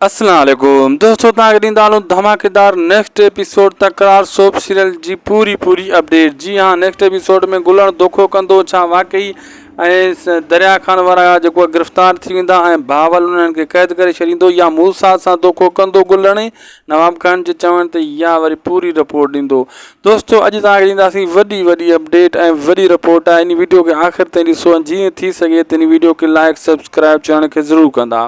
السلام عليڪم دوستو توهان کي ڏيندا هلون ڌماڪيدار نيڪسٽ ايپيسوڊ تڪرار سوپ سيريل جي پوري پوري اپڊيٽ جي ها نيڪسٽ ايپيسوڊ ۾ گلڻ دوکو ڪندو ڇا واقعي ۽ دريا خان وارا جيڪو آهي گرفتار ٿي ويندا ۽ بهاول انهن کي قيد ڪري ڇڏيندو يا موسا سان دوکو ڪندو گلڻي نواب خان جي چوڻ تي يا وري پوري رپورٽ ڏيندو دوستو اڄ توهان کي ڏينداسين وڏي وڏي اپڊيٽ ۽ وڏي رپورٽ آهي ان ويڊيو کي آخر تائين ڏسو ۽ جيئن ٿي سگهي تن ويڊيو کي لائڪ سبسڪرائب چيڻ کي ضرور ڪندا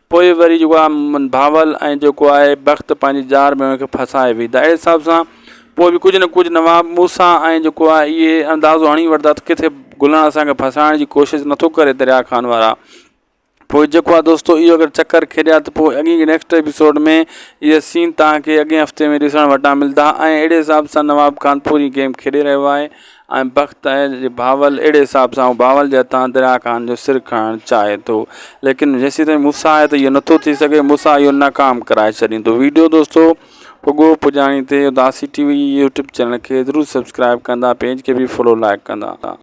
پوء وري جيڪو آ ڀانول ۽ جيڪو آهي بخت پنهنجي جار ۾ ان کي ڦاسائي ويئي ته اهڙي حساب سان پوء به ڪجهه نه ڪجهه نواب موسيٰ ۽ جيڪو آهي اهي اندازو هڻي وٺندا ته ڪٿي گلڻ اسانکي ڦاسائڻ جي ڪوشش نٿو ڪري دريا خان وارا پوء جيڪو آهي دوستو اهو اگر چڪر کيڏيا ته پوء اڳين جي نيڪسٽ ايپيسوڊ ۾ اهي سين تهانکي اڳين هفتي ۾ ڏسڻ وٽان ملدا ۽ اهڙي حساب سان نواب خان پوري گيم کيڏي رهيو آهي ۽ بخت آهي جي بهاول اهڙي حساب سان هو بهاول جي هٿان دريا خان جو سر کڻڻ چاهي ٿو ليڪن جيسين تائين موسيٰ آهي ته اهو نٿو ٿي سگهي موسيٰ اهو ناڪام ڪرائي ڇڏيندو ويڊيو دوستو پڳو پڄاڻي تي اداسي ٽي وي يوٽيوب چينل کي ضرور سبسڪرائب ڪندا پيج کي به فالو لائڪ ڪندا